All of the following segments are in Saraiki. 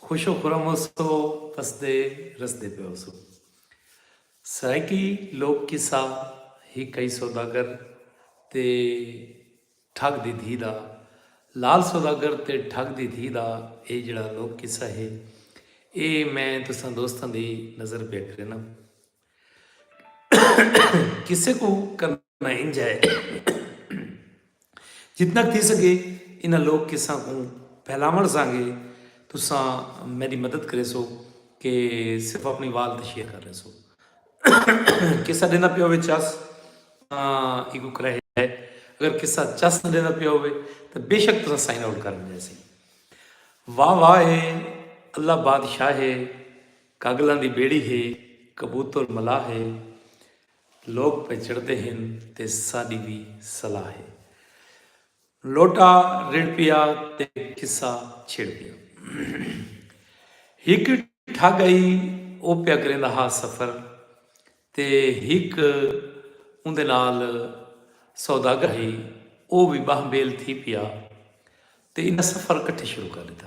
خوش و خرم ہوسو ہسدے رسدے پئے ہوسو۔ سرائیکی لوک قصہ ہک کئی سوداگر تے ٹھگ دی دھی دا لال سوداگر تے ٹھگ دی دھی دا اے جیڑھا لوک قصہ ہے اے میں تساں دوستاں دی نظر پیا کرینا۔ قصے کوں کرݨا انج ہے جتنا تھی سکے انہاں لوک قصہ کوں پھیلاوݨ سانگے تساں میری مدد کرے سو کہ صرف اپنی وال تے شیئر کر رہے سو قصہ دینا پیا ہوئے چس ایگو کرے ہے اگر قصہ چس دینا پیا ہوئے تو بے شک تساں سائن آؤٹ کر دے سی واہ واہ ہے اللہ بادشاہ ہے کاڳلاں دی ٻیڑی ہے، کبوتر ملاح ہے، لوک پئے چڑھدے ہن تے ساݙی وی صلاح ہے۔ لوٹا رڑھ پیا تے قصہ چھڑ پیا۔ ہک ٹھڳ ہئی او پیا کریندا ہا سفر تے ہک اوندے نال سوداگر ہئی او وی ٻاہ ٻیل تھی پیا تے انہاں سفر کٹھے شروع کر ݙتا۔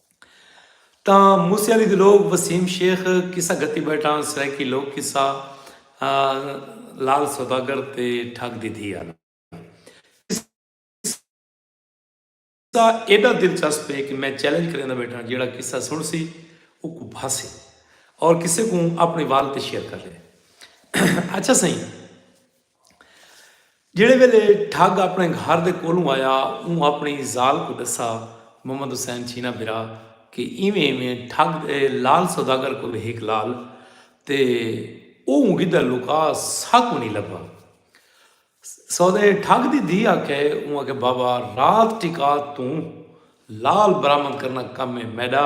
تاں موسی علی دے لوک وسیم شیخ قصہ گھتی بیٹھان سرائیکی لوک قصہ لال سوداگر تے ٹھگ دی دھی آلا قصہ ایڈا دلچسپ ہے کہ میں چیلنج کریندا بیٹھاں جیڑا قصہ سن سی اوکو بھاسے اور کسے کو اپنے وال تے شیئر کر لے اچھا سائیں جیڑھے ویلے ٹھگ اپݨے گھر دے کولھوں آیا اوں اپݨی ذال کوں ݙسا محمد حسین چھینا بھرا کہ ایویں ایویں ٹھگ دے لعل سوداگر کول ہک لعل تے اوں گدھا لکا سا کو نی لبھا سودے ٹھگ دی دھی آکھے اوں آکھے بابا رات ٹکا توں لعل برآمد کرنا کم ہے میڈا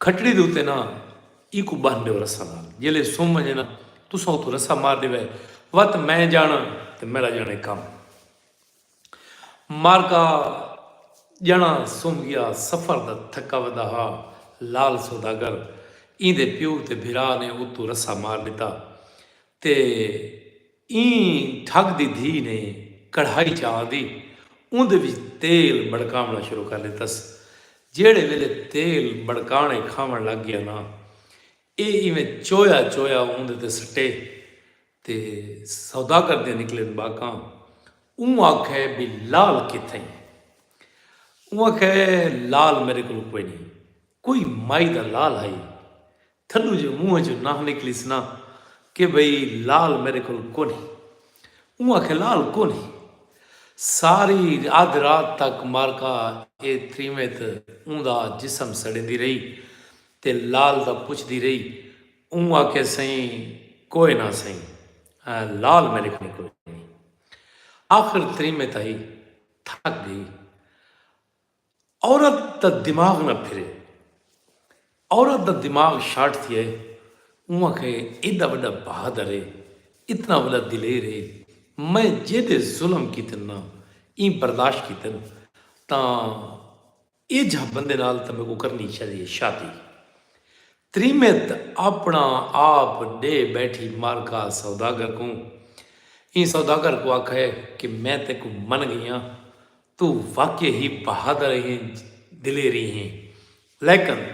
کھٹڑی دے اتے ناں اینکوں بن ڈیو رسہ نال جیلے سم ونجے ناں تساں اتھوں رسہ مار ڈیوے وت میں جانڑاں تے میڈا جانڑے کم مارکا جنڑاں سم گیا سفر دا تھکا ودا ہا لال سوداگر ایندے پیو تے بھرا نے اتوں رسہ مار ڈتا تے ایں ڈھگ دی دھی نے کڑھائی چا تی اوندے وچ تیل بڑکاونڑاں شروع کر ڈتس۔ جیہڑے ویلے تیل بڑکانڑے کھاونڑ لگ گیا نا اے ایویں چویا چویا اوندے تے سٹے تے سوداگر دیاں نکلن باکاں۔ اوں آکھے بھئی لال کتھئیں؟ اوں آکھے لال میڈے کول کوئنی کوئی مائی دا لال ہئی تھڈو جو منہ چوں ناں نکلیس نا کہ بھئی لال میڈے کول کونہی۔ اوں آکھیا لال کونہی۔ ساری ادھ رات تک مارکا اے تریمت اوں دا جسم سڑیندی رہی تے لال دا پچھدی رہی۔ اوں آکھیا سئیں کوئے ناں سئیں لال میڈے کول کونہی۔ آخر تریمت آئی تھک گئی۔ عورت دا دماغ نہ پھرے۔ عورت دا دماغ شارٹ تھیا ہے۔ اوں آکھیا اے ایڈا وڈا بہادر اے۔ اتنا وڈا دلیر اے۔ میں جیڈے ظلم کیتن نا ایں برداشت کیتن تاں ایجھا بندے نال تاں میکوں کرنی چاہدی اے شادی۔ تریمت اپنا آپ ڈے بیٹھی مارکا سوداگر کوں۔ ایں سوداگر کوں آکھا اے کہ میں تیکوں من گئی آں۔ توں واقعی ہی بہادر اہیں دلیری ہیں لیکن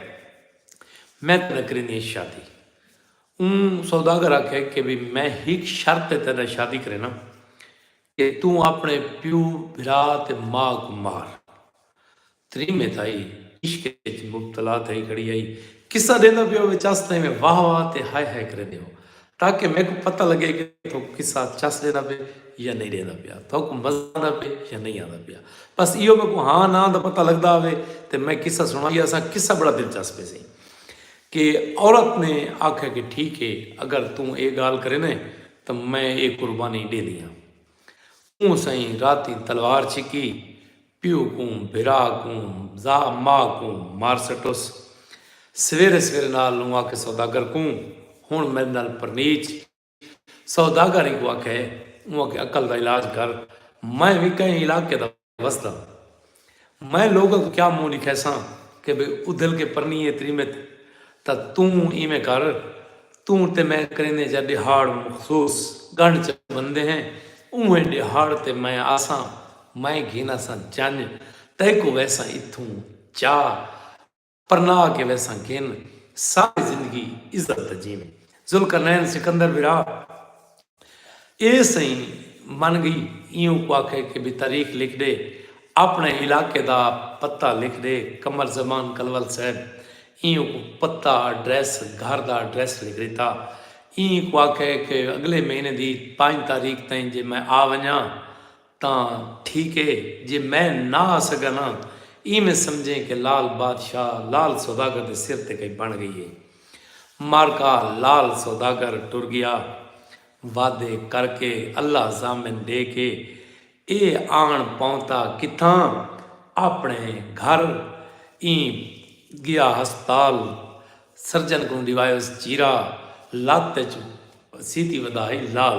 میں تیڈے نال کریندی ہیں شادی اوں سوداگر آکھے کہ وی میں ہک شرط تے تیڈے نال شادی کرینداں کہ توں اپنے پیو بھرا تے ماء کوں مار تریمے تھائی عشق اچ مبتلا تھئی کھڑی ہئی قصہ ڈیندا پیو وچ اسدیں میں واہ واہ تے ہائے ہائے کریندے ہو تاکہ میکوں پتہ لگے کہ تہاکوں قصہ چس ݙیندا پئے یا نئیں ݙیندا پیا، تہاکوں مزہ آندا پئے یا نئیں آندا پیا۔ بس ایہو میکوں ہاں ناں دا پتہ لڳدا ہاوے تے میں قصہ سݨائی یاساں۔ قصہ بڑا دلچسپ ہیسی کہ عورت نے آکھیا کہ ٹھیک ہے اگر توں ایہ ڳالھ کریندے تاں میں ایہ قربانی ݙیندی ہاں۔ اوں سئیں راتیں تلوار چھکی۔ پیو کوں، بھرا کوں، ذا ما کوں مار سٹوس۔ سویرے سویرے نال اوں آکھے سوداگر کوں، ہنڑ میڈے نال پرنیچ۔ سوداگر اینکوں آکھے، اوں آکھے عقل دا علاج کر، میں وی کہیں علاقے دا وسداں۔ میں لوگاں کوں کیا منہ ڈکھیساں کہ بھئی ادھل کے پرنیے تریمت۔ تاں توں ایویں کر، توں تے میں کریندے جاں ݙیہاڑ مخصوص ڳنڈھ چ بندے ہیں، اونویں ݙیہاڑ تے میں آساں، میں گھناساں جنڄ، تیکوں ویساں اتھوں چا پرناہ کے ویساں گھن، ساری زندگی عزت تے جیویں۔ ذوالقرنین سکندر وراء اے سئیں من گئی ایوں کو آکھے کہ بی تاریخ لکھ ڈے اپنے علاقے دا پتہ لکھ ڈے قمر زمان کلول صاحب ایوں کو پتہ ایڈریس گھر دا ایڈریس لکھ ڈتا ایں کو آکھے کہ اگلے مہینے دی پنج تاریخ تئیں جے میں آ ونجاں تاں ٹھیک اے جے میں نہ آ سگاں ناں ایویں سمجھیں کہ لال بادشاہ لال سوداگر دے سر تے کئی بݨ گئی اے۔ معرکہ لال سوداگر ٹر گیا۔ وعدے کر کے اللہ ضامن ݙے کے اے آن پہنتا کتھاں آپݨے گھر ایں گیا ہسپتال سرجن کوں ݙیوایوس چیرا لت اچ سیتی ودھائی لال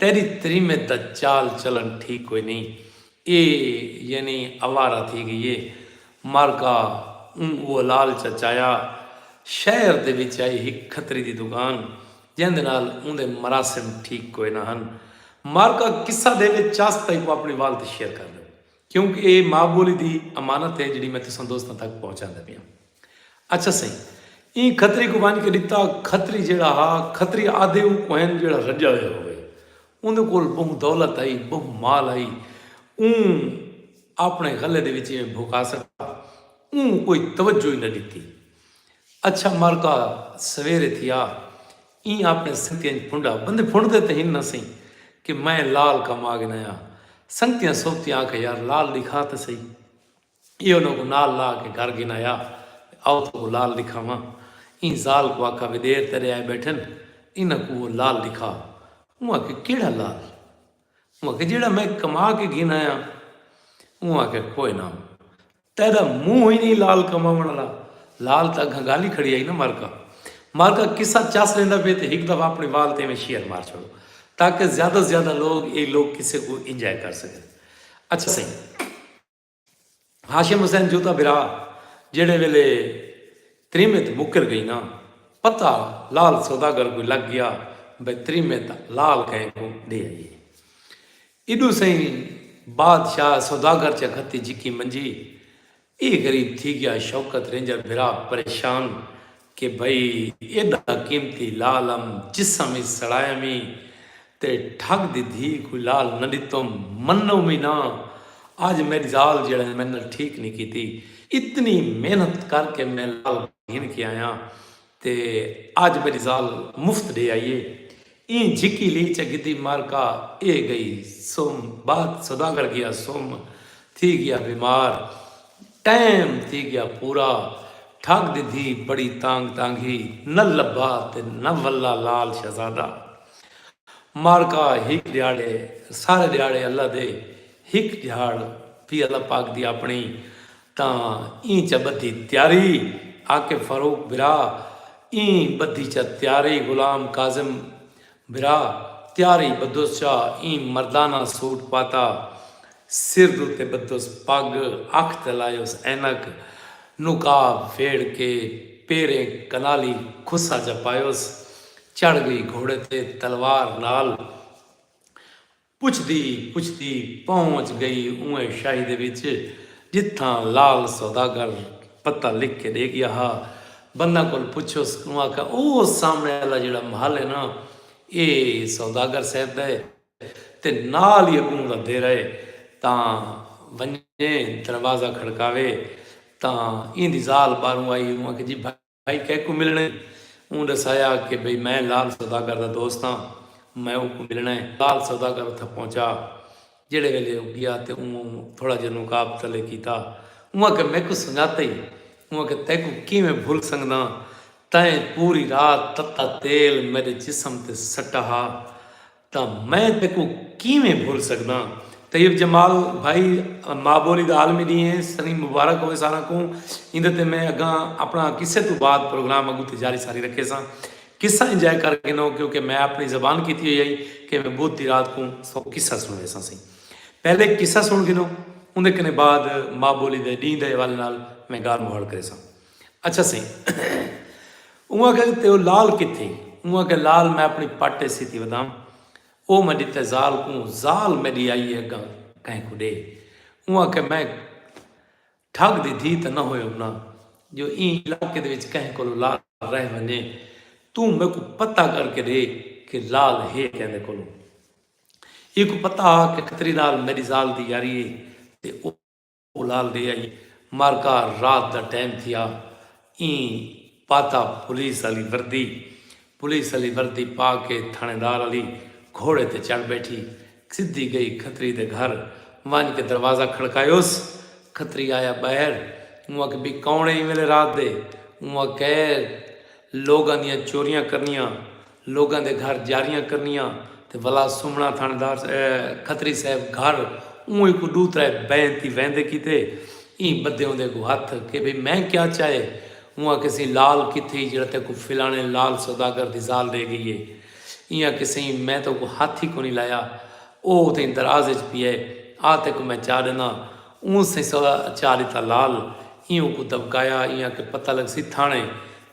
تیݙی تریمت دا چال چلݨ ٹھیک کوئی نئیں اے یعنی آوارہ تھی ڳئی اے مارکا اوں اوالال چا چایا شہر دے وچ آئی ہک کھتری دی دکان جیندے نال اوندے مراسم ٹھیک کوئی نہ ہن مارکا قصہ دے وچ چاس تئیں کوں اپݨی وال تے شیئر کر ݙیو کیونکہ اے ماء ٻولی دی امانت اے جیڑھی میں تساں دوستاں تک پہنچاندے پیاں۔ اچھا سئیں ایں کھتری کوں ونج کے ڈتا کھتری جیڑھا ہا کھتری آدھے اوں کوں ہن جیڑھا رجا ہویا ہووے اوندے کول بہوں دولت ہئی بہوں مال ہئی اوں آپنے غلے دے وچ ایویں بھکا سٹا اوں کوئی توجہ ہی نہ ڈتی اچھا مارکا سویرے تھیا ایں آپنے سنگتیاں اچ پھنڈا بندے پھنڈ دے تے ہن نہ سئیں کہ میں لال کم آ گنایا سنگتیاں سوبتیاں آکھیا یار لال ڈکھا تے سہی ایہو انہاں کوں نال لا کے گھر گھن آیا تے آؤ تہاکوں لال ݙکھاواں۔ ایں ذال کوں آکھا وی دیر تیݙے آئے ٻیٹھن انہاں کوں او لال ݙکھا۔ اوں آکھیا کیڑھا لال؟ اوں آکھیا جیڑھا میں کما کے گھن آیا ہاں۔ اوں آکھیا کوئے نہ تیݙا منہ ہی نئیں لال کماوݨ آلا۔ لال تاں اڳھاں ڳالھ ہی کھڑی آئی نا مرکا۔ مرکا قصہ چس ویندا پئے تے ہک دفعہ اپݨی وال تے ایویں شیر مار چھوڑو تاکہ زیادہ زیادہ لوک ایں لوک قصے کوں انجوائے کر سڳن۔ اچھا سئیں! ہاشم حسین جوتا برا جیڑے ویلے تریمت مکر گئی نا پتا لال سوداگر کوئی لگ گیا بے تریمت لال کہیں کو دے آئیے ایڈو سہی بادشاہ سوداگر چا گھتی جکی منجی اے غریب تھی گیا شوکت رینجر برا پریشان کہ بھئی ایڈا قیمتی لعل ام جسم ای سڑایم ای تے ٹھگ دی دھی کوں لعل نہ ڈتم منو وی نہ اج میڈ زال جیڑھا ہے میڈ نال ٹھیک نی کیتی اتنی محنت کر کے میں لعل گھن کے آیاں تے اج میڈی زال مفت ڈے آئی ہے ایں جھکی لی چہ گھدی مارکا اے گئی سم بات سوداگر گیا سم تھی گیا بیمار ٹائم تھی گیا پورا ٹھگ دی دھی بڑی تانگ تانگھی نہ لبھا تے نہ ولہ لال شہزادہ مارکا ہک ڈیاڑے سارے ڈیاڑے اللہ دے ہک ڈیاڑ پی اللہ پاک دی اپنی تاں ایں چا بدھی تیاری عاقب فاروق برا ایں بدھی چا تیاری غلام کاظم برا تیاری بدھوس چا ایں مردانہ سوٹ پاتا سر دوتے بدھوس پگ اکھ تے لایوس عینک نقاب پھیڑ کے پیریں کنالی کھسا جا پایوس چڑھ گئی گھوڑے تے تلوار نال پچھدی پچھدی پہنچ گئی اونہہ شاہی دے وچ جتھاں لعل سوداگر پتہ لکھ کے ڈے گیا ہا۔ بندہ کول پچھیس اوں آکھیا او سامنے آلا جیڑھا محل ہے نا اے سوداگر صاحب دا ہے تے نال ہی اگوں دا دیرہ ہے تاں ونجے دروازہ کھڑکاوے تاں ایندی زال باہروں آئی اوں آکھیا جی بھائی بھائی کیکوں ملنڑ اے؟ اوں ڈسایا کہ بھئی میں لال سوداگر دا دوست ہاں میں اوکوں ملنڑ اے۔ لال سوداگر اتھاں پہنچا جیڑھے ویلے او گیا تے اوں تھوڑا جیہا نقاب تلے کیتا۔ اوں آکھیا میکوں سنجاتے ہی؟ اوں آکھیا تیکوں کیویں بھل سنگداں تیں پوری رات تتا تیل میڈے جسم تے سٹا ہا تاں میں تیکوں کیویں بھل سگداں۔ طیب جمال بھائی ماء بولی دا عالمی ڈینھ ہے سنی مبارک ہووے ساراں کوں ایندے تے میں اگاں اپنڑاں قصے توں بعد پروگرام اگوں تے جاری ساری رکھیساں قصہ انجائے کر گھنو کیونکہ میں اپنڑی زبان کیتی ہوئی ہئی کہ میں بدھ دی رات کوں سو قصہ سنڑویساں سیں پہلے قصہ سنڑ گھنو اوندے کنے بعد ماء بولی دے ڈینھ دے حوالے نال میں گال مہاڑ کریساں۔ اچھا سئیں اوں آکھیا کہ تیو لال کتھے؟ اوں آکھیا لال میں اپݨی پٹ ایسی تی ودھاں او میں ݙتے زال کوں زال میݙی آئی اے اڳاں کہیں کوں ݙے اوں آکھیا میں ٹھڳ دی دھی تاں نہ ہویوم نہ جو ایں علاقے دے وچ کہیں کولو لال رہ ونڄے توں میکوں پتہ کر کے ݙے کہ لال ہے کیندے کولو ایکوں پتہ ہا کہ کھتری نال میݙی زال دی یاری اے تے او اولال دے آئی معرکہ رات دا ٹائم تھیا ایں پاتا پولیس آلی وردی پولیس آلی وردی پا کے تھانے دار آلی گھوڑے تے چڑھ بیٹھی سدھی گئی کھتری دے گھر ونج کے دروازہ کھڑکایوس کھتری آیا باہر اوں آکھے بی کون ہے ایں ویلے رات دے اوں آکھے لوگاں دیاں چوریاں کرنیاں لوگاں دے گھر جاریاں کرنیاں تے ولا سمنڑاں تھانڑیدار کھتری صاحب گھر اوں ہیکوں ڈو ترے بئیں تی ویندے کیتے ایں بدھے اوندے اگوں ہتھ کہ بھئی میں کیا چاہے اوں آکھیسیں لال کتھئی جیڑھا تیکوں فلانے لال سوداگر دی زال ڈے گئی اے ایں آکھیسیں میں تیکوں ہتھ ہی کونی لایا او اتھیں دراز اچ پیئے آ تیکوں میں چا ڈینداں اوں سیسہ چا ݙتا لال ایں اوکوں دٻکایا ایں آکھے پتہ لڳسی تھاݨے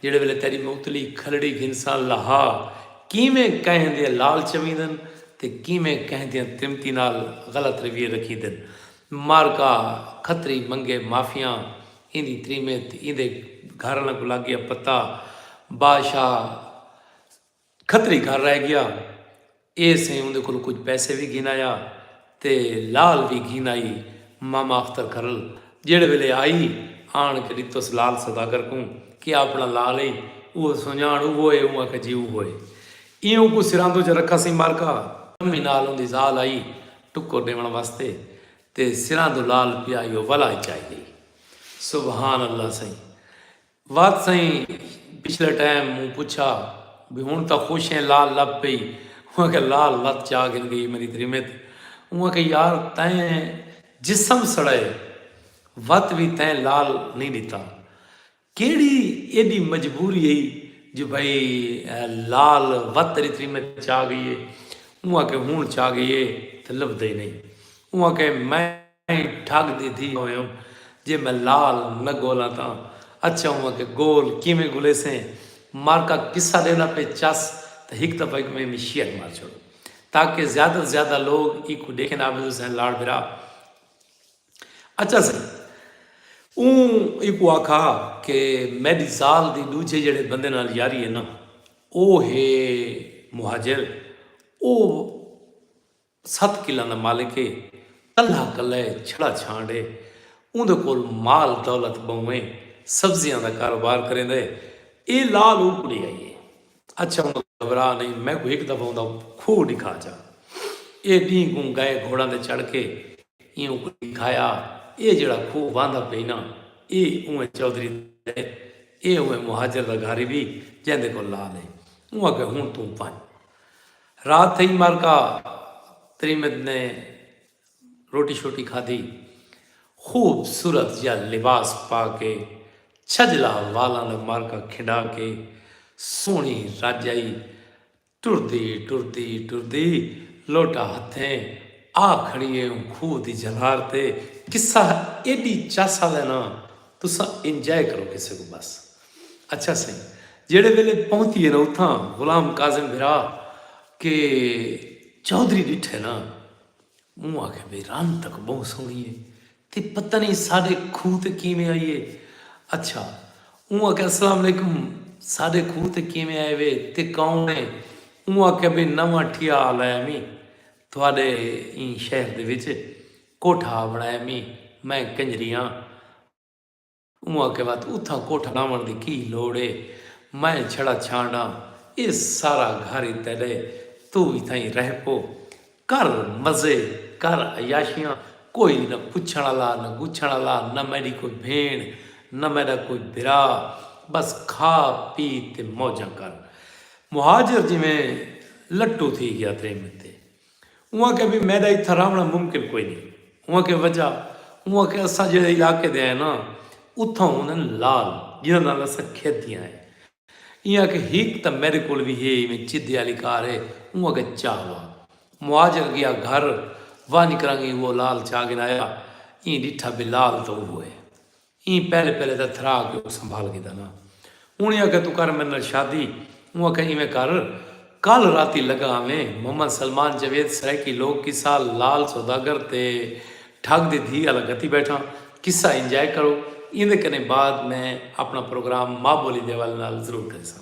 جیڑھے ویلے تیݙی موتلی کھلڑی گھنساں لہا کیویں کہیں دے لال چویندن تے کیویں کہیں دیاں تریمتی نال غلط رویے رکھیندن معرکہ کھتری منگے معافیاں ایندی تریمت ایندے گھر آلاں کوں لڳ ڳیا پتہ بادشاہ کھتری گھر رہ گیا اے سئیں اوندے کولوں کجھ پیسے وی گھن آیا تے لال وی گھن آئی ماما اختر گھرل جیڑھے ویلے آئی آن کے ڈتس لال سوداگر کوں کہ اے آپنڑا لال اے اوہو سنجانڑ اوہو اے اوں آکھیا جی اوہو اے ایں اوں کوں سراندو چ رکھا سئیں مارکا امیں نال اوندی زال آئی ٹکر ڈیونڑ واسطے تے سراندو لال پیا ایہو ولا اچ آئی گئی سبحان اللہ سئیں وات سئیں پچھلے ٹائم موں پچھا بھئی ہن تاں خوش ہیں لال لب پئی اوں آکھیا لال لت چا گھن گئی میری تریمت اوں آکھیا یار تیں جسم سڑائے وت وی تیں لال نہیں ڈتا کیڑی ایڈی مجبوری ہئی جو بھئی لال وت تیری تریمت چا گئی ہے اوں آکھیا ہن چا گئی ہے تے لبھدا ہی نہیں اوں آکھیا میں ایں ٹھگ دی دھی ہویوں جے میں لال نہ گولاں تاں اچھا ہوواں کہ گول کیویں گھلیسیں مر کا قصہ ڈیندا پئے چس تاں ہک دفعہ ایکوں ایں میں شیئر مار چھوڑوں تاکہ زیادہ توں زیادہ لوگ ایکوں ڈیکھن عابد حسین لاڑ بھرا اچھا سئیں اوں ایکوں آکھا کہ میڈی زال دی ڈوجھے جیڑھے بندے نال یاری ہے نا او ہے مہاجر او ست قلعاں دا مالک اے۔ کلھا کلھا اے چھڑا چھانڈ اے۔ اوندے کول مال دولت بہوں اے۔ سبزیاں دا کاروبار کریندا اے۔ اے لال اوں کڑی آئی اے۔ اچھا ہن گھبرا نئیں میکوں ہک دفعہ اوندا کھوہ ڈکھا جا۔ اے ڈینہہ کوں گئے گھوڑاں تے چڑھ کے اینوں کوں ڈکھایا۔ اے جیڑھا کھوہ واہندا پئی نا اے اوئیں چودھری دا اے۔ اے اوئیں مہاجر دا گھر وی جیندے کول لال اے۔ اوں آکھیا ہن توں ونج۔ رات تھئی مرکا تریمت نے روٹی شوٹی کھادی۔ خوب صورت جا لباس پا کے چھجلا والاں دا مرکا کھنڈا کے سوہنی رج آئی۔ ٹردی ٹردی ٹردی لوٹا ہتھیں آ کھڑی اے اوں کھوہ دی جھلار تے۔ قصہ ایڈی چس آلے نا تساں انجوائے کرو کسے کوں بس اچھا سئیں جیڑھے ویلے پہنتیے نا اتھاں غلام کاظم بھرا کے چوہدری ڈٹھے نا اوں آکھے بھئی رن تک بہوں سوہنی ہے تے پتہ نہیں ساڈے کھوہ تے کیویں آئی ہے اچھا اوں آکھے السلام علیکم ساڈے کھوہ تے کیویں آئے وے تے کون ہے اوں آکھے بھئی نواں ٹھیا لایا میں تھوڑے این شہر دے وچ کوٹھا بنایا میں میں کنجریاں اوں آکھیا وت اتھاں کوٹھا لاوݨ دی کی لوڑ اے، میں چھڑا چھانڈاں اے سارا گھر ای تیݙا اے، توں وی اتھاں ای رہ پو، کر مزے، کر عیاشیاں، کوئی وی نہ پچھݨ آلا، نہ گچھݨ آلا، نہ میݙی کوئی بھیݨ، نہ میݙا کوئی بھرا، ٻس کھا پی تے موجاں کر۔ مہاجر جیویں لٹو تھی ڳیا تریمت تے۔ اوں آکھیا بھئی میڈا اتھاں رہونڑاں ممکن کوئی نئیں۔ اوں آکھیا وجہ؟ اوں آکھیا اساں جیڑھے علاقے دے ہئیں ناں اتھاں ہوندن لال جنہاں نال اساں کھیدیاں ہئیں۔ ایں آکھیا ہک تاں میڈے کول وی ہے ایویں چدھے آلی کار ہے اوں آکھیا چاہ وا مہاجر گیا گھر ونج کرانگی اوہو لال چاہ گھنایا ایں ڈٹھا بھئی لال تاں اوہو ہے۔ ایں پہلے پہلے تاں تھرا کے اونکوں سنبھال گھدا نا۔ انہیں آکھیا توں کر میڈے نال شادی۔ اوں آکھیا ایویں کر کل راتی لگا آویں۔ محمد سلمان جاوید سرائیکی لوک قصہ لال سوداگر تے ٹھگ دی دھی آلا گھتی بیٹھاں۔ قصہ انجوائے کرو۔ ایندے کنیں بعد میں اپنا پروگرام ماں بولی دے حوالے نال ضرور کریساں۔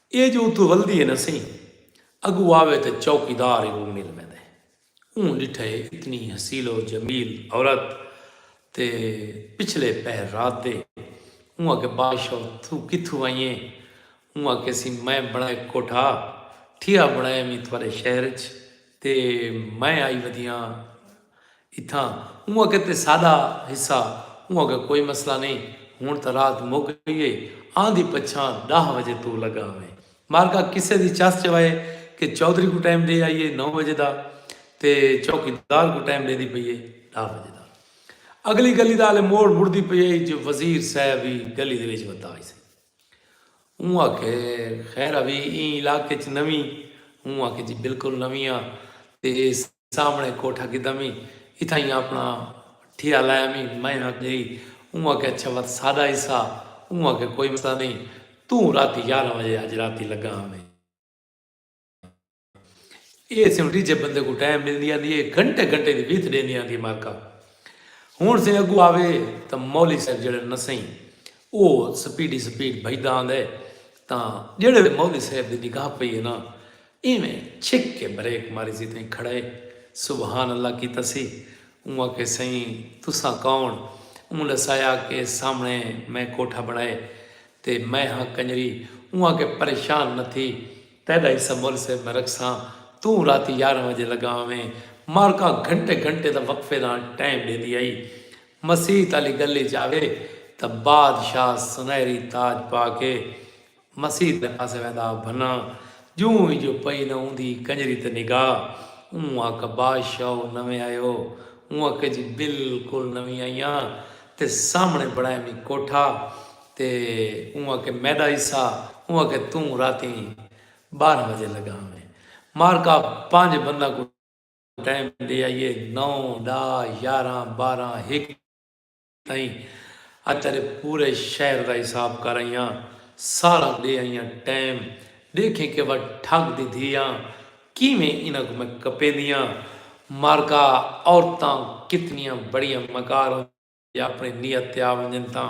اے جو اتھوں ولدی ہے نا سئیں اگو آوے تے چوکیدار ای کوں مل ویندے۔ اوں ڈٹھے اتنی حسیل و جمیل عورت تے پچھلے پہر رات دے اوں آکھے بادشاہ توں کتھوں آئی ہیں؟ اوں آکھے سی میں بنڑائے کوٹھا ٹھیا بنڑایا وی تھوڑے شہر اچ تے میں آئی ودیاں۔ اتھاں اونہاں کیتے ساڈا حصہ اونہاں کوں کوئی مسئلہ نئیں ہنڑ تاں رات مک گئی اے آندھی پچھاں ڈاہ وجے توں لگا ہوویں مارکا قصے دی چس چوائے کہ چودھری کوں ٹائم ڈے آئی اے نو وجے دا تے چوکی دار کوں ٹائم ڈیندی پئی اے ڈاہ وجے دا اگلی گلی دا ہالے موڑ مڑدی پئی اے جو وزیر صاحب وی گلی دے وچ وتا آئی سئی اوں آکھے خیر اوی ایں علاقے چ نویں اوں آکھے جی بالکل نویں آں تے اے سامنڑے کوٹھا کیتا میں اتھائیں آپنڑا ٹھیا لایا میں میں آکھیا گئی اوں آکھیا اچھا وت ساڈا حصہ اوں آکھیا کوئی مسئلہ نئیں توں راتی یارہ وجے اج راتی لگا ہاں میں اے سیوں ڈیجھے بندے کو ٹائم ملدی آندی اے گھنٹے گھنٹے دی بیت ڈیندی آندی مارکا ہن سے اگو آوے تا مولی صاحب جڑے نسیں او سپیڈی سپیڈ بھجدا آندے تا جڑے مولی صاحب دی نگاہ پئی ہے نا اینویں چھک کے بریک ماری سی تئیں کھڑائے سبحان اللہ کیتا سی۔ اوں آکھے سئیں تساں کون؟ اوں لسایا کے سامنڑے میں کوٹھا بنڑائے تے میں ہاں کنجری۔ اوں آکھے پریشان نہ تھی تیڈا حصہ مول صیب میں رکھساں توں راتی یارہ وجے لگا آویں۔ مارکا گھنٹے گھنٹے دا وقفے نال ٹائم ڈیندی ہئی۔ مسیت آلی گلی اچ آوے تاں بادشاہ سنہری تاج پا کے۔ مسیت دے پاسے ویندا بھناں جوں ای جو پئی نہ اوندی کنجری تے نگاہ اوں آکھا بادشاہ او نویں آئے ہو اوں آکھا جی بالکل نویں آئی ہاں تے سامنے بنڑایا میں کوٹھا تے اوں آکھا میڈا حصہ اوں آکھا توں راتی بارہ بجے لگا ہویں مارکا پنج بنداں کوں ٹائم ڈے آئیے نو ڈاہ یاراں بارہ ہک ائیں اج تیڈے پورے شہر دا حساب کر ائیاں سارا ڈے ائیاں ٹائم ڈیکھیں کہ وا ٹھگ دی دھیاں کیویں انہاں کوں میں کپیندیاں مارکا عورتاں کتنیاں بڑیاں مکار ہوندیاں جے اپنی نیت تے آ ونجن تاں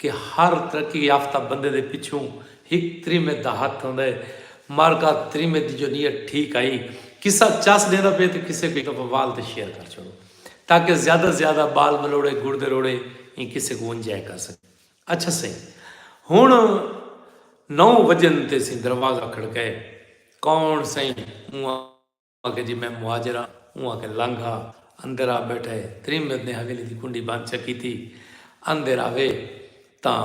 کہ ہر ترقی یافتہ بندے دے پچھوں ہک تریمت دا ہتھ ہوندا ہے۔ مارکا تریمت دی جو نیت ٹھیک ہئی۔ قصہ چس ڈیندا پئے تے قصے کوں اک وال تے شیئر کر چھوڑو تاکہ زیادہ توں زیادہ بال ملوڑے گڑ دے روڑے ایں قصے کوں انجوائے کر سگن۔ اچھا سئیں ہن نو وجن تے اسیں دروازہ کھڑکائے۔ کون سئیں؟ اوں آ۔ آکھیا جی میں مہاجر ہاں۔ اوں آکھیا لنگھ آ۔ اندر آ بیٹھا ہے۔ تریمت نے حویلی دی کنڈی بند چا کیتی۔ اندر آوے تاں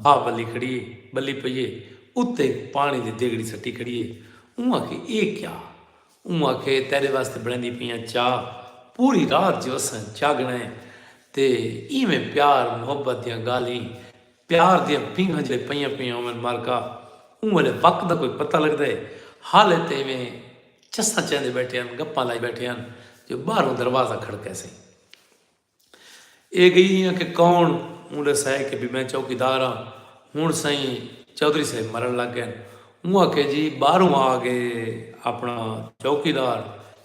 بھا بلی کھڑی ہے۔ بلی پئی ہے۔ اتے ہک پانی دی دیگڑی سٹی کھڑی ہے۔ اوں آکھیا ایہ کیا؟ اوں آکھیا ایہ تیڈے واسطے بنڑیندی پئی آں چاء۔ پوری رات جو اساں جاگنا ہے تے ایویں پیار محبت دیاں گالھیں۔ پیار دیاں پینگھاں جلے پئیاں پئیاں ہوون مارکا اوں ویلے وقت دا کوئی پتہ لگدے حالے تے ایویں چساں چیندے بیٹھے ہن گپاں لائی بیٹھے ہن جو باہروں دروازہ کھڑکے سئیں اے گئی ہیاں کہ کون اوں ڈسائے کہ بی میں چوکیدار ہاں ہن سئیں چودھری صاحب مرن لگ گئن اوں آکھے جی باہروں آ گئے اپنا چوکیدار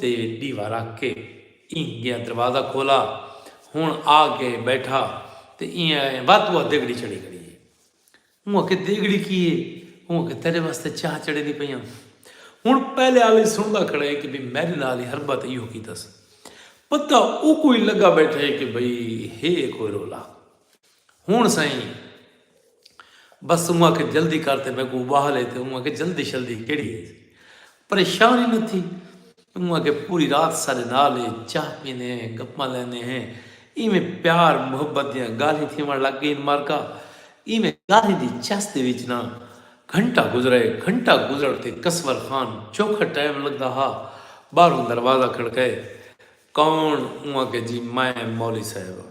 تے ݙیوا رکھ کے ایں گیا دروازہ کھولا ہن آ کے بیٹھا تے ایں آئے وا تو آ دیگڑی چڑھی کھڑی ہے اوں آکھے دیگڑی کی ہے اوں آکھے تیرے واسطے چاہ چڑھیندی پئی ہاں ہن پہلے آلی سندا کھڑا ہے کہ بھئی میرے نال ہی ہربا تے ایہو کیتس پتہ اوکوں ہی لگا بیٹھا ہے کہ بھئی ہے کوئی رولا۔ ہن سئیں بس توں آکھے جلدی کر تے میکوں اباہ لے تے اوں آکھے جلدی شلدی کیڑی ہے پریشان ہی نہ تھی اوں آکھے پوری رات سارے نال ہے چاہ پینے ہیں گپاں لینے ہیں ایویں پیار محبت دیاں گالھیں تھیوݨ لگ گئین مارکا ایویں گالھیں دی چس دے وچ نہ گھنٹہ گزرے گھنٹہ گزرن تے کسور خان چوکھا ٹائم لگدا ہا باہروں دروازہ کھڑکائے کون اوں آکھے جی میں مولوی صاحب ہاں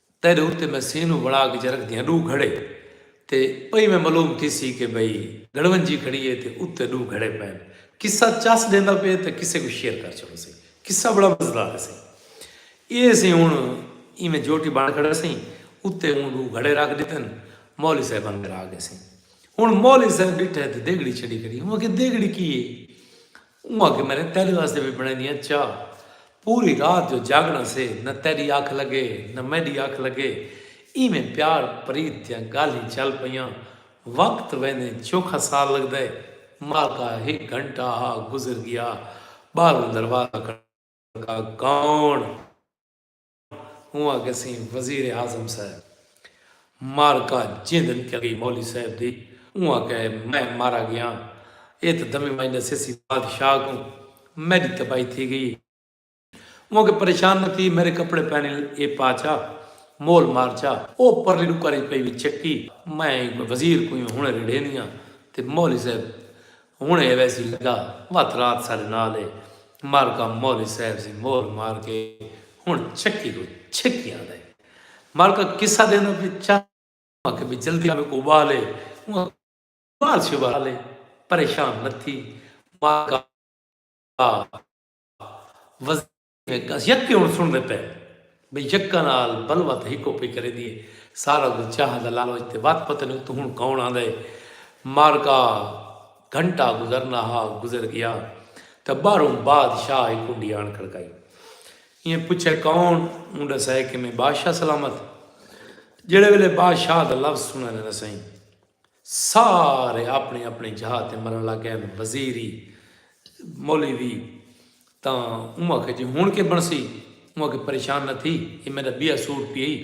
تیڈے اتے میں سینوں وڑا کے جرک دیاں ڈو گھڑے تے پئی میں ملوم تھیسی کے بھئی گڑونجی کھڑی ہے تے اتے ڈو گھڑے پین قصہ چس ڈیندا پے تے قصے کوں شیئر کر چھوڑو سی قصہ بڑا مزدار ہے سہی اے سی ہن ایویں جوٹی بن کھڑا سی اتے اوں ڈو گھڑے رکھ ڈتن مولی صاحب اندر آ گئے سی ہن مولی صاحب ڈٹھے تے دیگڑی چھڈی کھڑی اوں آکھے دیگڑی کی ہے اوں آکھیا میں نے تیڈے واسطے وی بنڑائیندی ہاں چاء۔ پوری رات جو جاگنڑاں سے نہ تیڈی اکھ لگے نہ میڈی اکھ لگے۔ ایویں پیار پریت دیاں گالھیں چل پئیاں۔ وقت ویندیں چوکھا سال لگدا ہے۔ مالکا ہک گھنٹہ آ گزر گیا۔ باہروں دروازہ کھڑکا کون؟ ہوواں گسیں وزیر اعظم صاحب مارکا جیندن کیا گئی مولی صاحب دی اوہاں کہ میں مارا گیاں اے تاں دمیں مائی نسیسی بادشاہ کوں میڈی تباہی تھی گئی اے اوہاں کہ پریشان نہ تھی میرے کپڑے پہنے اے پا چا مول مار چا او پرلی ڈکر اچ پئی وی چکی میں وزیر کوں ہنڑے ریڑھیندیاں تے مولی صاحب ہن اے ویسی لگا وت رات ساڈے نال اے مالکا مولوی صاحب سی مول مار کے ہن چکی کوں چھکی آندا اے مالکا قصہ دیندا پے چا اوں آکھے بی جلدی میکوں ابال اے اوں آکھے ابال شبال اے پریشان نہ تھی مالکا وزیر کس یکے ہن سنڑدے پئے بھئی یکا نال بلوا تے ہکو پئی کریندی اے سارا کجھ چاہ دا لالوچ تے وت پتہ نی اتوں ہن کون آندا اے معرکہ گھنٹہ گزرنا ہا گزر گیا تاں باہروں باد شاہ ہک کنڈی آن کھڑکائی ایں پچھے کون اوں ڈسائے کیویں بادشاہ سلامت جیڑھے ویلے باد شاہ دا لفظ سنڑن نہ سئیں سارے آپنڑی آپنڑی جھا تے مرنڑ لگ گئن۔ وزیری مولی وی تاں اوں آکھیا جی ہنڑ کے بنڑسی؟ اوں آکھیا پریشان نہ تھی اے میڈا بیاہ سوٹ پی ہئی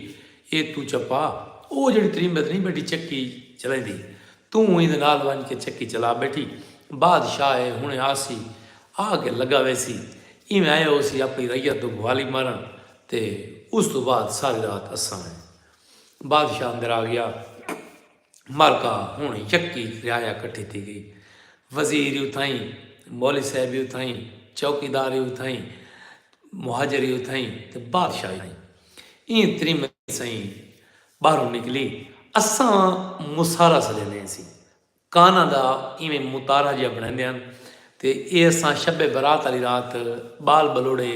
اے توں چپا او جیڑھی تریمبت نی بیٹھی چکی چلیندی توں ایندے نال ونج کے چکی چلا بیٹھی بادشاہ اے ہنڑے آسی آ کے لگا ویسی ایویں آئے ہوسی آپنڑی رعیت دو گوالی مارنڑ تے اس توں بعد ساری رات اساں اے بادشاہ اندر آ گیا مالکا ہوں یکی رعایا کٹھی تھی گئی وزیر اتھائی مولی صاحب اتھائی چوکی دار اتھائی مہاجر اتھائی تو بادشاہ اتھائی این تری میں سائیں باہر نکلی اساں مسارا سلینے سی کاناں دا ایویں متارہ جیہا بنڑیندے ہن تے ایہ اساں شب برات آلی رات بال بلوڑے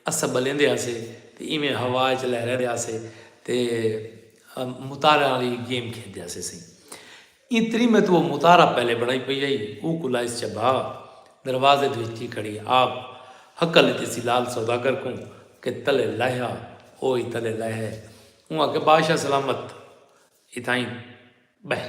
اسہ بلیندے ہاسے تے ایویں ہوا اچ لہریندے ہاسے تے متاریاں آلی گیم کھیڈدے ہاسے سئیں ایں تریمے توں او متارہ پہلے بنڑائی پئی ہئی او کوں لائس چا بھا دروازے دے وچ جی کھڑی آپ ہکل ڈتی سی لال سوداگر کوں کہ تلے لہہ آ او ای تلے لہہ آئے اوں آکھیا بادشاہ سلامت اتھائیں بہہ۔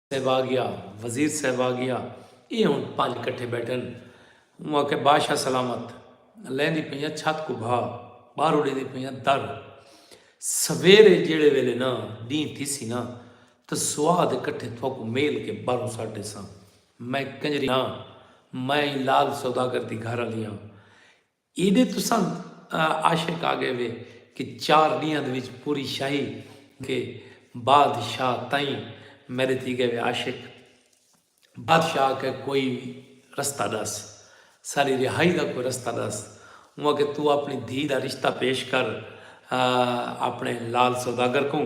صاحباگیا وزیر صاحباگیا اے ہن پنج کٹھے بیٹھن اوں آکھیا باشا سلامت لیندی پئیاں چھت کوں بھا باہرو ڈیندی پئیاں در سویرے جیڑھے ویلے نا ڈینہہ تھیسی نا تاں سوا دے کٹھے تھوکوں میل کے باہروں سٹ ڈیساں میں کنجری ہاں میں لال سوداگر دی گھر آلی ہاں ایڈے تساں عاشق آگئے وے کہ چار ڈینہاں دے وچ پوری شاہی کے باد شاہ تائیں میڈے تھی گئے وے عاشق باد شاہ آکھیا کوئی رستہ ڈس ساڈی رہائی دا کوئی رستہ ڈس اوں آکھیا تو اپنی دھی دا رشتہ پیش کر اپنے لال سوداگر کوں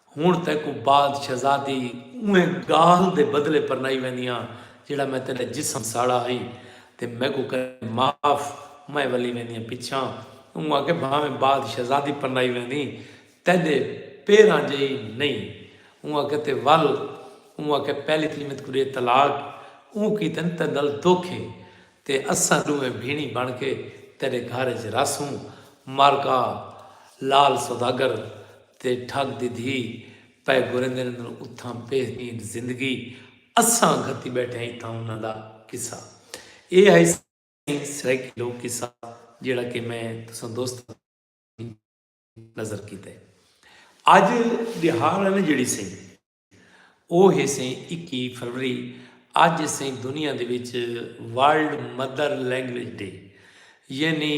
ہنڑ تیکوں بعد شہزادی اونہہ گالھ دے بدلے پرنائی ویندیاں جیہڑا میں تیڈا جسم ساڑا ہئی تے میکوں کریں معاف میں ولی ویندیاں پچھاں اوں آکھے بھانویں بعد شہزادی پرنائی ویندیں تیڈے پیراں جئی نئیں اوں آکھے تے ول اوں آکھے پہلی تھی میتکوں ڈے طلاق اوں کیتن تیڈ نال دکھ ہے تے اساں ݙوہیں بھیݨیں بݨ کے تیݙے گھر اچ رہسوں۔ مارکا، لعل سوداگر تے ٹھڳ دی دھی پئے گھریندن اندر اتھاں بہترین زندگی اساں گھتی ٻیٹھے ہیں اتھاں انہاں دا قصہ ایہ ہئی سئیں سرائیکی لوک قصہ جیڑھا کہ میں تساں دوستاں سامھیں نظر کیتے اڄ ݙیہاڑ ہے نا جیڑھی سئیں او ہیسیں اکی فروری اج اسیں دنیا دے وچ ورلڈ مدر لینگویج ڈے یعنی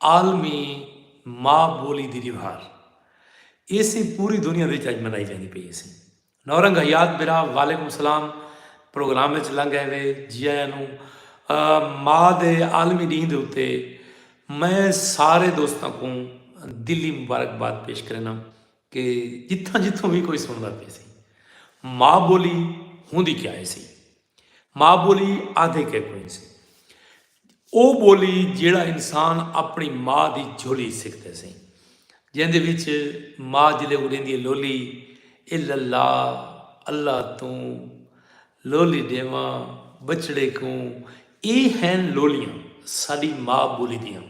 عالمی ماء بولی دی ڈیوہار ایسیں پوری دنیا دے وچ اج منائی جاندی پئی ہیسیں نورنگ حیات برا وعلیکم السلام پروگرام وچ لنگ آئے وے جی آیا نو ماء دے عالمی ڈینہ دے اتے میں سارے دوستاں کو دلی مبارکباد پیش کرنا کہ جتھاں جتھوں وی کوئی سنڑدا پئے سی ماء بولی ہوندی کیا ہے سی ماء بولی آدھے کے کوئی سی او بولی جیڑا انسان اپنی ماء دی جھولی سکھتے سی جیندے وچ ماء جلے اڑیندی لولی اے للا اللہ توں لولی ڈیواں بچڑے کوں اے ہیں لولیاں ساڈی ماء بولی دیاں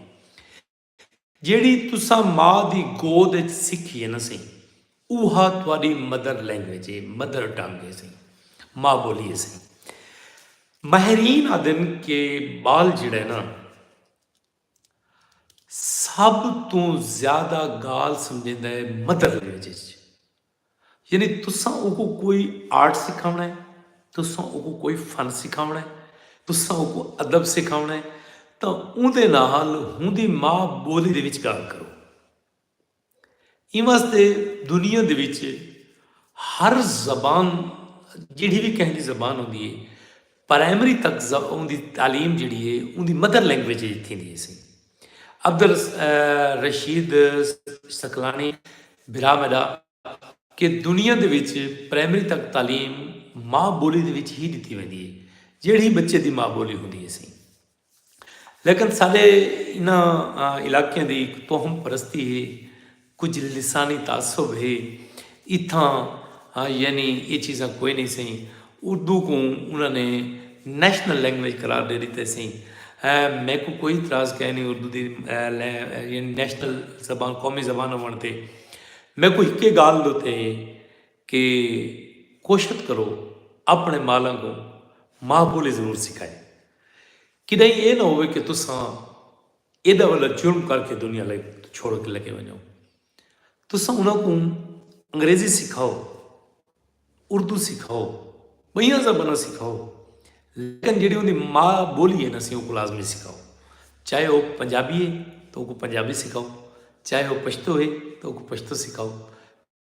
جیڑھی تساں ماء دی گود اچ سکھی ہے نا سئیں اوہا تہاڈی مدر لینگویج ہے، مدر ٹنگ ہے سئیں، ماء بولی ہے سئیں۔ ماہرین آدھن کہ بال جیڑھا ہے نا سب توں زیادہ گال سمجھیندا ہے مدر لینگویج اچ۔ یعنی تساں اوکوں کوئی آرٹ سکھاوݨا ہے، تساں اوکوں کوئی فن سکھاوݨا ہے، تساں اوکوں ادب سکھاوݨا ہے تاں اوندے نال ہوندی ماء ٻولی دے وچ ڳالھ کرو۔ ایں واسطے دنیا دے وچ ہر زبان جیڑھی وی کہیں دی زبان ہوندی ہے پرائمری تک اوندی تعلیم جیڑھی ہے اوندی مدر لینگویج اچ تھیندی ہیسی۔ عبدالرشید ثقلانی بھرا میڈا کہ دنیا دے وچ پرائمری تک تعلیم ماں بولی دے وچ ہی ڈتی ویندی ہے جیڑھی بچے دی ماں بولی ہوندی ہیسی۔ لیکن ساڈے انہاں علاقیاں دی ہک توہم پرستی ہے، کجھ لسانی تعصب ہے، اتھاں یعنی اے چیزاں کوئی نئیں سئیں، اردو کوں انہاں نے نیشنل لینگویج قرار ڈے ڈتے سئیں، میکوں کوئی اعتراض کائے نئیں اردو دی نیشنل زبان قومی زبان ہوونڑ تے، میکوں ہکے گالھ دے اتے۔ کہ کوشت کرو اپنے مالاں کوں ماہ بولی ضرور سکھائے۔ کڈائیں اے نہ ہووے کہ تساں ایڈا وڈا جرم کر کے دنیا لگ چھوڑ کے لگے ونجو۔ تساں انہاں کوں انگریزی سکھاؤ، اردو سکھاؤ، بئیاں زباناں سکھاؤ لیکن جیڑھی اوندی ماء بولی ہے نا سی اوکوں لازمی سکھاؤ۔ چاہے او پنجابی ہے تو اوکوں پنجابی سکھاؤ، چاہے او پشتو ہے تو اوکوں پشتو سکھاؤ۔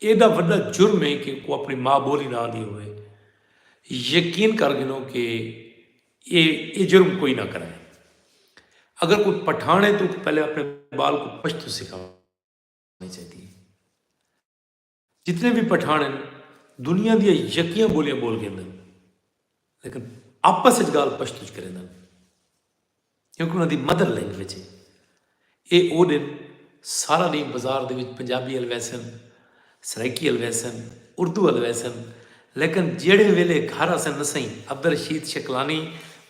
ایڈا وڈا جرم ہے کہ او اپنڑی ماء بولی نہ آندی ہووے۔ یقین کر گھنو کہ اے اے جرم کوئی نہ کرے۔ اگر کوئی پٹھان ہے تو اونکوں پہلے اپنڑے بال کوں پشتو سکھاونڑی چاہیدی ہے۔ جتنے وی پٹھان ہن دنیا دیاں یکیاں بولیاں بول گھندن۔ لیکن آپس اچ گالھ پشتو اچ کریندن کیونکہ انہاں دی مدر لینگویج اے۔ اے او ڈینھ سارا ڈینھ بزار دے وچ پنجابی ال ویسن، سرائیکی ال ویسن، اردو ال ویسن لیکن جیڑھے ویلے گھر آسن نسئیں عبدالرشید شکلانی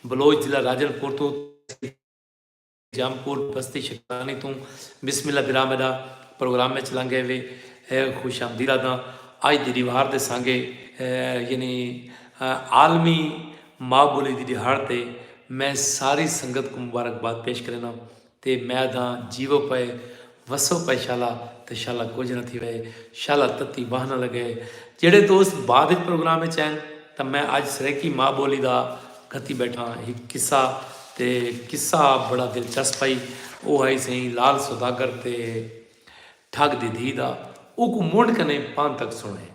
بلوچ ضلع راجن پور توں تحصیل جام کوٹ بستی شکرانی توں بسم اللہ ڈرامے دا پروگرام وچ لنگھے وے خوش آمدید آدھاں اج دی ڈیوار دے سانگے یعنی عالمی ما بولی دی ڈیہاڑ تے میں ساری سنگت کوں مبارکباد پیش کرینداں تے میں آدھاں جیوو پئے وسو پئے شالا تے شالا کجھ نہ تھی وئے شالا تتی باہ نہ لگئے جیڑھے دوست بعد اچ پروگرام اچ این تاں میں اج سرائیکی ماء بولی دا گھتی بیٹھاں ہک قصہ تے قصہ بڑا دلچسپ ہئی او ہئی سئیں لال سوداگر تے ٹھگ دی دھی دا اوکوں منڈھ کنیں پانتک سنڑیں۔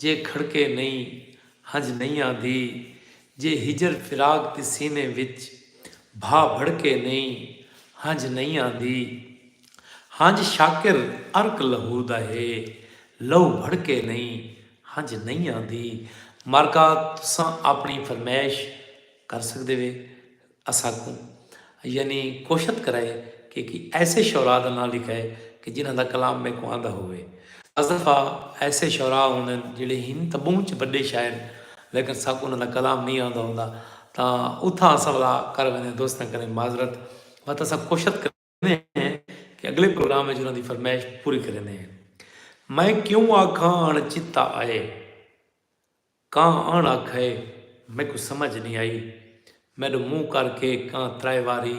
جے کھڑکے نئیں ہنج نئیں آندی جے ہجر فراق دی سینے وچ بھا بھڑکے نئیں ہنج نئیں آندی ہنج شاکر عرق لہو دا ہے لہو بھڑکے نئیں ہنج نئیں آندی مارکا تساں آپنڑی فرمائش کر سکدے وے۔ اساکوں یعنی کوشت کرائے کہ کی ایسے شعراء دا ناں لکھائے کہ جنہاں دا کلام میکوں آندا ہووے۔ بعض دفعہ ایسے شعراء ہوندن جیڑھے ہن تاں بہوں چ بڈے شاعر ہن لیکن ساکوں انہاں دا کلام نئیں آندا ہوندا تاں اتھاں اساں ولا کر ویندے دوستاں کریں معذرت بت اساں کوشت کر کریندے ہیں کہ اگلے پروگرام اچ انہاں دی فرمائش پوری کریندے ہیں۔ میں کیوں آکھاں اݨ چتا آئے۔ کاں اݨ آکھئے میکوں سمجھ نی آئی۔ میݙو منہ کر کے کاں ترائے واری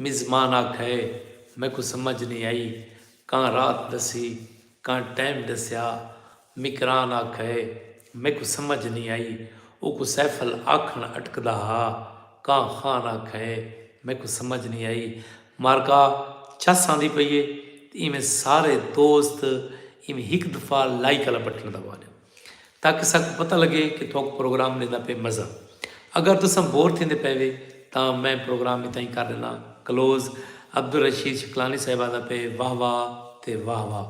مزمان آکھئے میکوں سمجھ نی آئی۔ کاں رات ݙسی۔ کاں ٹائم ݙسیا۔ مکران آکھئے، میکوں سمجھ نئیں آئی۔ اوکوں سیفل آکھݨ اٹکدا ہا۔ کاں خان آکھئے، میکوں سمجھ نئیں آئی۔ مارکا چس آندی پئی اے تے ایویں سارے دوست ایویں ہک دفعہ لائیک آلا بٹن دبا ݙیو تاکہ ساکوں پتہ لڳے کہ تہاکوں پروگرام ݙیندا پئے مزہ اگر تساں بور تھیندے پئے وے تاں میں پروگرام اتھاں ہی کر ڈینا کلوز عبدالرشید شکلانی صاحب آندا پئے واہ واہ تے واہ واہ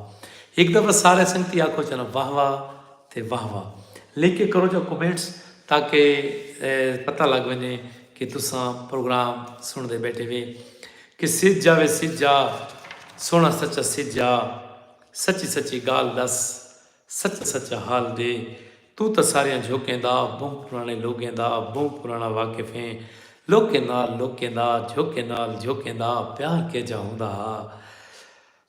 ہک دفعہ سارے سنگتی آکھو چا نا واہ واہ تے واہ واہ لکھ کے کرو چا کمنٹس تاکہ پتہ لگ ونجے کہ تساں پروگرام سن دے بیٹھے وے کہ سج جا وے سج جا سونا سچا سج جا سچی سچی گال دس سچ سچا حال دے توں تاں ساریاں جھوکیں دا بہوں پرانے لوگیں دا بہوں پرانا واقف ہیں لوکیں نال لوکیں دا جھوکیں نال جھوکیں دا پیار کیجھا ہوندا ہا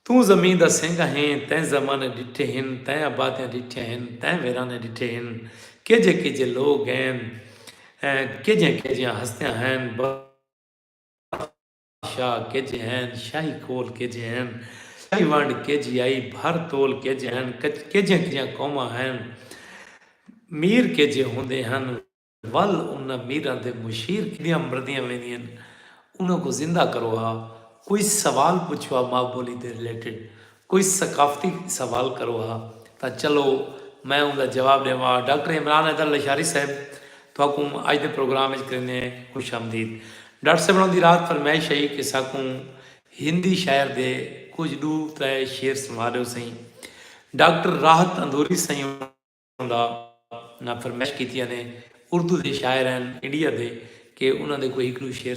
توں زمین دا سینگا ہیں تیں زمانے ڈٹھے ہن تیں آبادیاں ڈٹھیاں ہن تیں ویرانے ڈٹھے ہن کیجھے کیجھے لوگ ہیں کیجھیاں کیجھیاں ہستیاں ہیں بس شاہ کج ہین شاہی کھول کج ہین شاہی ونڈ کج یائی بھر تول کج ہین کجیاں کجیاں قوماں ہین میر کج ہوندے ہن ول انہاں میراں دے مشیر کڈیاں مردیاں ویندین انہاں کوں زندہ کرو ہا کوئی سوال پچھو ہا ماء بولی دے ریلیٹڈ کوئی ثقافتی سوال کرو ہا تاں چلو میں اوندا جواب ڈیواں ہا۔ ڈاکٹر عمران حیدر لشاری صاحب تہاکوں اج دے پروگرام وچ کریندے ہیں خوش آمدید۔ ڈاکٹر صاحب انہاں دی رات فرمائش ہئی کہ ساکوں ہندی شاعر دے کجھ ڈو ترے شعر سنوا ڈیو سئیں۔ ڈاکٹر راحت اندھوری سئیں انہاں دا ناں فرمائش کیتی انہیں اردو دے شاعر ہن انڈیا دے کہ انہاں دے کوئی ہک ڈو شعر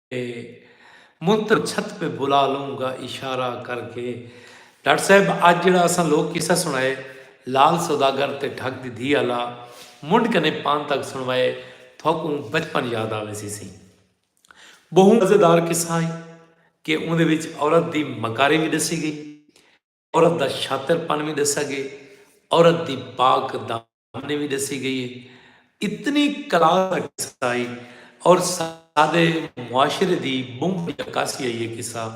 موں تاں چھت پہ بلا لوں گا اشارہ کر کے۔ ڈاکٹر صاحب اج جیڑھا اساں لوک قصہ سنڑائے لال سوداگر تے ڈھگ دی دھی آلا منڈھ کنیں پان تک سنڑوائے تھوکوں بچپن یاد آ ویسی سی۔ بہوں مزیدار قصہ ہئی کہ اوندے وچ عورت دی مکاری وی ڈسی گئی۔ عورت دا شاطر پن وی ڈسا گئے عورت دی پاک دامنی وی ڈسی گئی ہے اتنی کلاس دا قصہ آئی اور سادے معاشرے دی بونگ دی عکاسی آئی ہے قصہ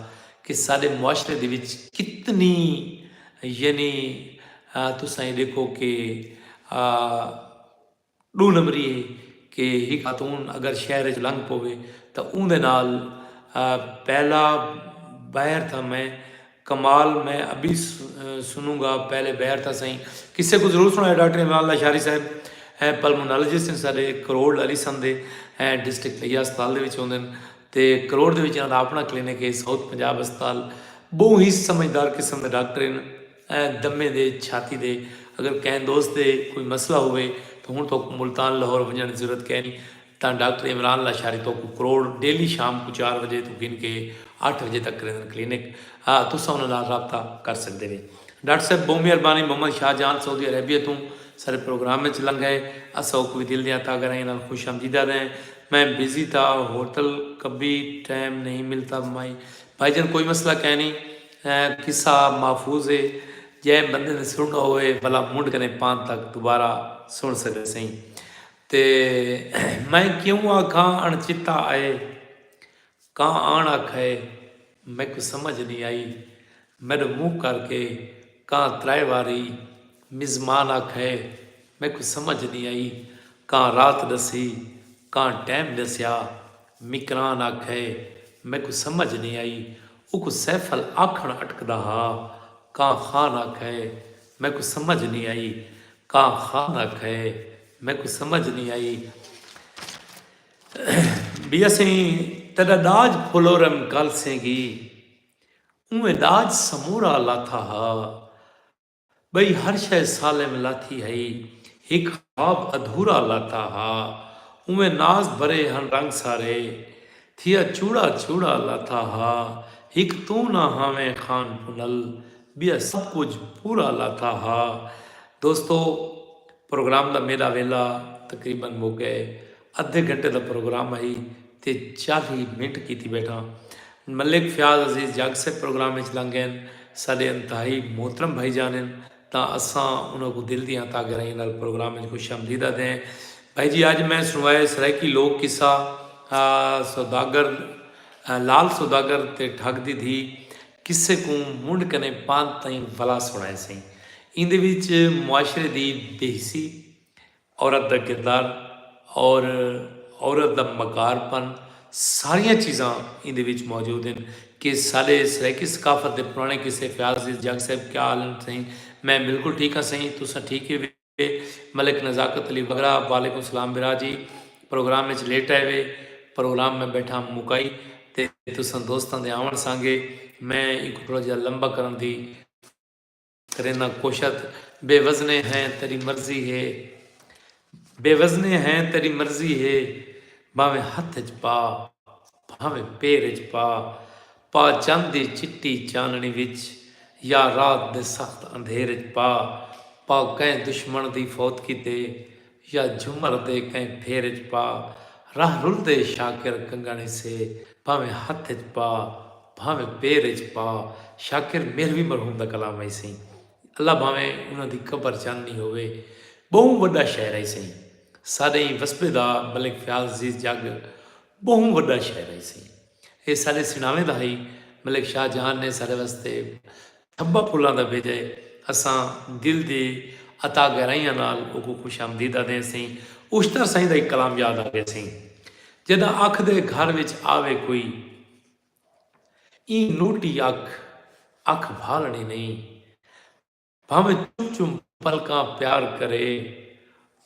کہ سادے معاشرے دی وچ کتنی یعنی تساں یہ دیکھو کہ ݙو نمبری اے کہ ہک خاتون اگر شہر اچ لنگھ پووے تاں اوندے نال پہلا بیر تھا میں کمال میں ابی سنوں گا پہلے بیر تھا سئیں قصے کوں ضرور سݨائے ڈاکٹر عمران لاشاری صاحب پلمونالوجسٹ ہن ساڈے کروڑ لالی سندھ دے ڈسٹرکٹ طیہ ہسپتال دے وچ ہوندن تے کروڑ دے وچ انہاں دا اپݨا کلینک اے ساؤتھ پنجاب ہسپتال ٻہوں ہی سمجھدار قسم دے ڈاکٹر ہن۔ دمے دے چھاتی دے اگر کہیں دوست دے کوئی مسئلہ ہووے تاں ہن توکوں ملتان لاہور ونجنڑ دی ضرورت کینی تاں ڈاکٹر عمران لاشاری توکوں کروڑ ڈیلی شام کوں چار وجے توں گھن کے اٹھ وجے تک کریندن کلینک ا تساں انہاں نال رابطہ کر سکدے وے ڈاکٹر صاحب بہوں مہربانی محمد شاہ جان سعودی عربیہ توں ساڈے پروگرام اچ لنگھ ائے اساں اوکوں وی دل دیاں تہہ گہرائیاں نال خوش آمدید آہدے ہیں میں بزی تھا ہوٹل کبھی ٹائم نہیں ملتا بھائی جان کوئی مسئلہ کینی۔ ایں قصہ محفوظ ہے جئیں بندے نے سنڑنڑو ہووے بھلا منڈھ کنیں پان تک دوبارہ سنڑ سگے سئیں تے میں کیوں آکھاں اݨ چتا آئے کاں آݨ آکھئے میکوں سمجھ نی آئی میڈو منہ کر کے کاں ترائے واری مزمان آکھئے میکوں سمجھ نی آئی کاں رات ڈسی کاں ٹیم ڈسیا مکران آکھئے میکوں سمجھ نی آئی اوکوں سیفل آکھن اٹکدا ہا کاں خان آکھئے میکوں سمجھ نی آئی کاں خان آکھئے میکوں سمجھ نی آئی بی اسیں تیڈا ڈاج پھلورم کالسیں گی اونویں ڈاج سمورا لاتھا ہا ٻئی ہر شئے سالم لاتھی ہئی۔ ہک خواب ادھورا لاتا ہا۔ اونویں ناز بھرے ہن رنگ سارے۔ تھیا چوڑا چوڑا لاتا ہا۔ ہک توں نہ ہاویں خان پنل۔ ٻیا سب کجھ پورا لاتا ہا۔ دوستو پروگرام دا میݙا ویلا تقریبا مک ڳئے۔ ادھے گھنٹے دا پروگرام ہئی تے چالیہہ منٹ کیتی بیٹھاں۔ ملک فیاض عزیز جگ سئیں پروگرام اچ لنگ گئین۔ ساڈے انتہائی محترم بھائی جان ہن تاں اساں انہاں کوں دل دیاں ہتھاں گہرائیاں نال پروگرام اچ خوش آمدید آدھدے ہیں۔ بھائی جی اج میں سنوائے سرائیکی لوک قصہ سوداگر لال سوداگر تے ٹھگ دی دھی قصے کوں منڈھ کنیں پانت تئیں ولا سنڑائے سئیں۔ ایندے وچ معاشرے دی بے حسی، عورت دا کردار اور عورت دا مکار پن ساریاں چیزاں ایندے وچ موجود ہن کہ ساڈے سرائیکی ثقافت دے پرانے قصے فیاض عزیز جاگ صاحب کیا حال ہن سئیں میں بلکل ٹھیک ہاں سئیں تساں ٹھیک ہیوے ملک نزاکت علی وگرا وعلیکم سلام برا جی پروگرام وچ لیٹ آئے وے پروگرام میں بیٹھا مکائی تے تساں دوستاں دے آون سانگے میں ایکو تھوڑا جہا لمبا کرن دی کرینا کوشت بے وزنے ہیں تیری مرضی ہے بے وزنے ہیں تیری مرضی ہے بھاویں ہتھ اچ پا بھاویں پیر اچ پا پا چند دی چٹی چاننی وچ یا رات دے سخت اندھیر اچ پا پا کئیں دشمن دی فوت کیتے یا جھمر دے کہیں پھیر اچ پا راہ رلدے شاکر کنگن ہسے بھانویں ہتھ اچ پا بھانویں پیر اچ پا شاکر مہروی مرحوم دا کلام ہئی سئیں اللہ بھانویں انہاں دی قبر چاندنی ہووے بہوں وڈا شاعر ہئی سئیں ساڈے ایں وسبے دا ملک فیاض عزیز جگ بہوں وڈا شاعر ہئی سئیں اے ساڈے سناویں دا ہئی ملک شاہ جہان نے ساڈے واسطے تھبا پھلاں دا بھیجا ہے۔ اساں دل دی عطا گہرائیاں نال اوکوں خوش آمدید آدھیں اسیں۔ اشتر سائیں دا ہک کلام یاد آ گئے سئیں۔ جینداں اکھ دے گھر وچ آوے کوئی ایں نوٹی اکھ اکھ بھالݨی نئیں بھانویں چم چم پلکاں پیار کرے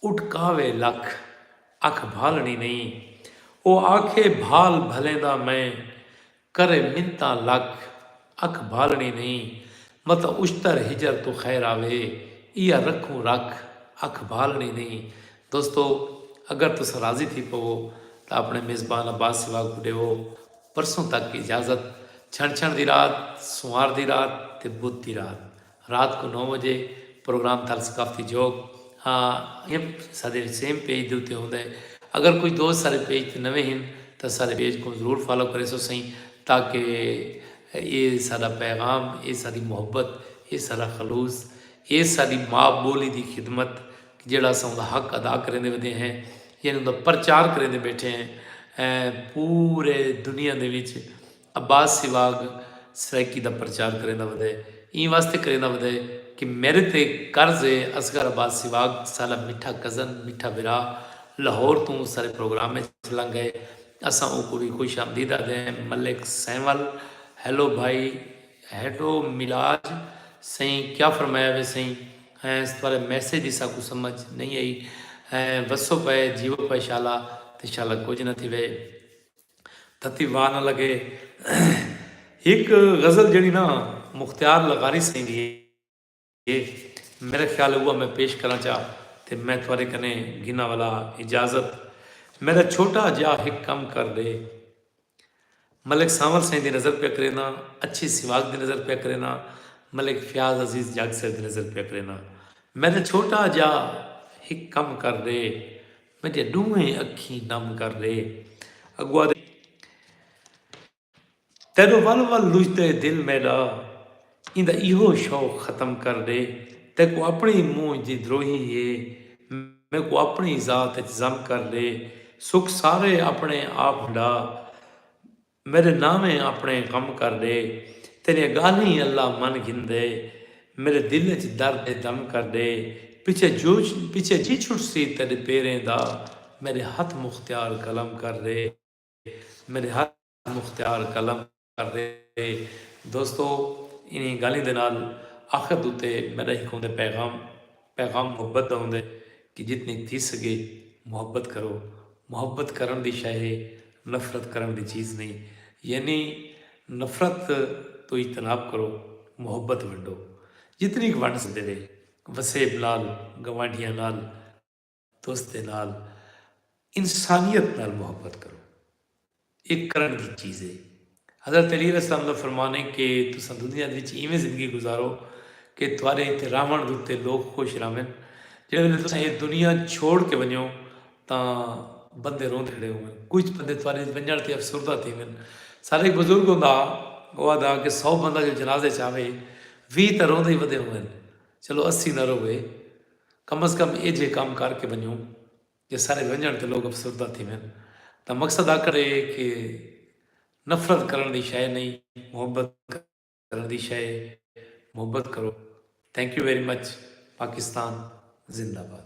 اٹکاوے لکھ اکھ بھالݨی نئیں او آکھے بھال بھلیں دا میں کرے منتاں لکھ، اکھ بھالݨی نئیں، متاں اشتر ہجر توں خیر آوے، ایہا رکھوں رکھ، اکھ بھالݨی نئیں۔ دوستو! اگر تساں راضی تھی پوو تاں اپݨے میزبان عباس سوا کوں ݙیوو۔ پرسوں تک اجازت۔ چھنچھݨ دی رات، سنوار دی رات تے بدھ دی رات رات کوں نو وجے پروگرام تھل ثقافتی جھوک ہ یں سادے وچ سیم پیج دے اتے ہوندا ہے اگر کچھ دوست سارے پیج تے نویں ہن تاں سارے پیج کوں ضرور فالو کریسو سئیں تاکہ ایہ ساڈا پیغام ایہ ساڈی محبت ایہ ساڈا خلوص ایہ ساڈی ماء بولی دی خدمت جیڑھا اساں اوندا حق ادا کریندے ودے ہیں یعنی اوندا پرچار کریندے بیٹھے ہیں پورے دنیا دے وچ عباس سیواگ سرائیکی دا پرچار کریندا ودے ایں واسطے کریندا ودے کہ میڈے تے قرض اے اصغر عباس سیواگ ساڈا مٹھا کزن مٹھا بھرا لاہور توں سارے پروگرام اچ لنگ اے اساں اوکوں وی خوش آمدید آدھیں ملک سینول ہیلو بھائی ہیڈو میلاج سئیں کیا فرمایا وے سئیں ہینس تھارے میسج دی ساکوں سمجھ نئیں ائی وسو پئے جیوو پئے شالا تے شالا کجھ نہ تھیوے۔ تھتی واہ نہ لگے۔ ہک غزل جیڑھی نا مختیار لغاری سئیں دی ہے میرا خیال ہے اوہا میں پیش کراں چا تے میں تہاڈے کنے گھناں ولا اجازت میڈا چھوٹا جیہا ہک کم کر ڈے ملک سانول سئیں دی نظر پیا کرینداں اچھی سواگ دی نظر پیا کرینداں ملک فیاض عزیز جاگ سر دی نظر پیا کرینداں میڈا چھوٹا جیہا ہک کم کر ڈے پنجے ڈوہیں اکھیں نم کر ڈے اگوا دے۔ تیڈو ول ول لجدا ہے دل میڈا ایندا ایہو شوق ختم کر ڈے۔ تیکوں اپنڑی مونجھ دی دروہی ہے میکوں اپنڑی ذات اچ ضم کر ڈے۔ سکھ سارے اپنڑے آپ ہنڈا۔ میݙے ناویں آپݨے کم کر ݙے تیݙیاں ڳالھیں اللہ من گھندے میݙے دل اچ درد ہے دم کر ݙے پچھے جو پچھے جی چھٹسی تیݙے پیریں دا میݙے ہتھ مختیار قلم کر ݙے میݙے ہتھ مختیار قلم کر ݙے دوستو انہاں ڳالھیں دے نال آخر دے اتے میݙا ہک ہوندے پیغام پیغام محبت دا ہوندے کہ جتنی تھی سگے محبت کرو محبت کرن دی شے ہے نفرت کرن دی چیز نہیں یعنی نفرت توں اجتناب کرو محبت ونڈو جتنی ک ونڈ سدے وے وسیب نال گوانڈھیاں نال تس دے نال انسانیت نال محبت کرو۔ اے کرݨ دی چیز ہے۔ حضرت علی علیہ السلام دا فرمان ہے کہ تساں دنیا دے وچ اینویں زندگی گزارو کہ تہاݙے ایتھے رہوݨ دے اتے لوک خوش رہون۔ جیڑھے ویلے تساں اے دنیا چھوڑ کے ونڄو تاں بندے روندے کھڑے ہوون۔ کجھ بندے تہاݙے اچ ونڄݨ تے افسردہ تھیون۔ ساݙا ہک بزرگ ہوندا ہا او آہدا ہا کہ سو بندہ جو جنازے اچ آوے ویہہ تاں روندے ہی ودے ہوون چلو اسی نہ رووے کم از کم ایجھے کم کر کے ونجوں جے سارے ونجنڑ تے لوگ افسردہ تھیون تاں مقصد آکھنڑ اے کہ نفرت کرنڑ دی شئے نئیں محبت کرنڑ دی شئے اے محبت کرو thank you very much Pakistan زندہ باد۔